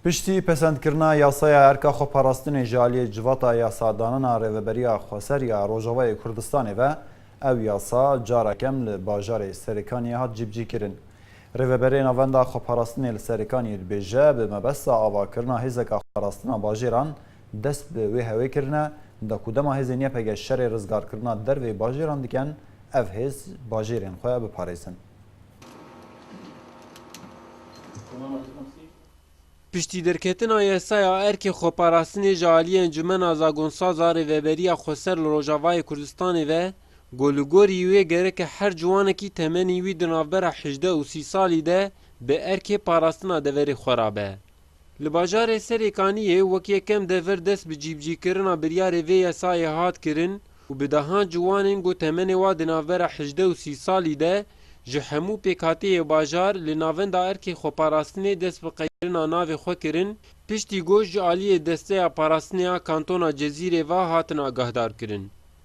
Piştî pesendkirina yasaya erka xweparastinê ji aliyê civata yasadanina Rêveberiya Xweser ya Rojavayê Kurdistanê ve, ew yasa carekem li bajarê Serêkaniyê hat cîbicîkirin. Rêveberê Navenda Xweparastinê li Serêkaniyê dibêje, bi mebesta avakirina hêzeka xweparastina bajêran dest bi wê hewê kirine da ku dema hêzên YPG şerê rizgarkirina dervê bajêran diken, ev hêz bajêrên xwe biparêzin. Piştî derketina yasaya erkê xweparastinê ji aliyê Encûmena Zagonsaz a Rêveberiya Xweser li Rojavayê Kurdistanê ve, ku li gorî wê gereke her ciwanekî temenî wî di navbera hejdeh û sî salî de bi erkê parastina deverê xwe ra be, Li bajarê Serê Kaniyê wek yekem dever dest bi cîbicîkirina biryarê vê yesayê hat kirin û bi dehan ciwanên ku temenê wan di navbera hejdeh û sî salî de ji hemû pêkhateyê bajar li navenda erkê xweparastinê dest bi qeyirina navê xwe kirin piştî ku ji aliyê Desteya Parastinê a Kantona Cezîrê ve hatin agahdarkirin.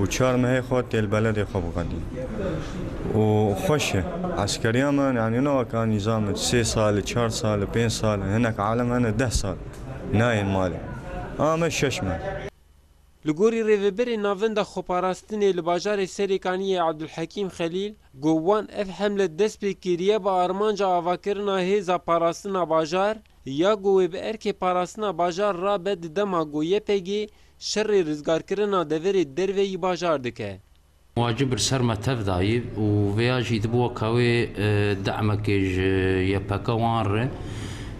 û çar mehê xwe têl beledê xwe biqedî û xweş e. Eskeriya me yanî ne weke nîzam e sê sal e, çar sal e, pênc sal e, hinek alem hene deh sal nayên malê. Ama me şeş meh. Li gorî Rêveberê Navenda Xweparastinê li bajarê Serêkaniyê Abdulhekîm Xelîl got wan ev hemle dest pê kiriye bi armanca avakirina hêza parastina bajar ya ku wê bi erkê parastina bajar rabe di dema ku YPG Şerê rizgarkirina deverê derve yî bajar dike. Wacib bir ser me tev dayî û vêya jî dibo ka wê demekê ji YPK wan re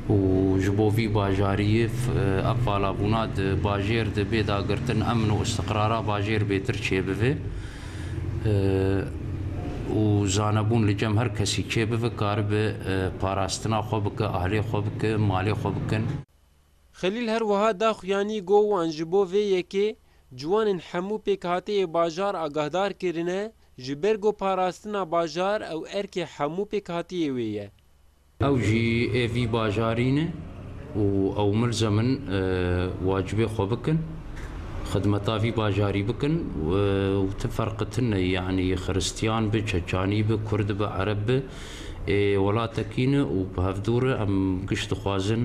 û ji bo vî bajariyê ev valabûna di bajêr de bê dagirtin emn û îstiqrara bajêr bêtir çêbive û zanebûn li cem her kesî çêbive karibe parastina xwe bike, ahlê xwe bike, malê xwe bikin. Xelîl her wiha da xuyanî got wan ji bo vê yekê ciwanên hemû pêkhateyê bajar agahdar kirine, ji ber ku parastina bajar ew erkê hemû pêkhateyê wê ye. Ew jî ê vî bajarî ne û ew milzem in wacibê xwe bikin, xidmeta vî bajarî bikin û ti ferqi tune ye yanî xiristîyan bi, çeçanî bi, kurd bi, ereb bi ê welatekî ne û bi hevdû re em giş dixwazin.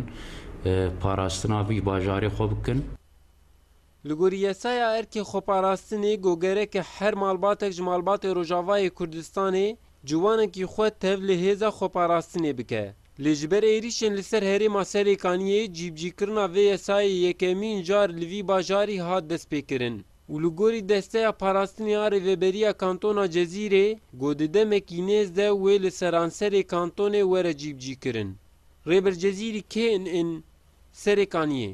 parastina vî bajarê xwe bikin. Li gorî yasaya erkê xweparastinê got gereke her malbatek ji malbatê Rojavayê Kurdistanê ciwanekî xwe tev li hêza xweparastinê bike. Lê ji ber êrîşên li ser herêma Serêkaniyê cîbicîkirina vê yasayê yekemîn jar li vî bajarî hat destpêkirin û li gorî desteya parastinê a Rêveberiya Kantona Cezîrê got di demekî nêz de wê li seranserê kantonê were cîbicîkirin. Rêber Cezîrî kê in in Serê Kaniyê?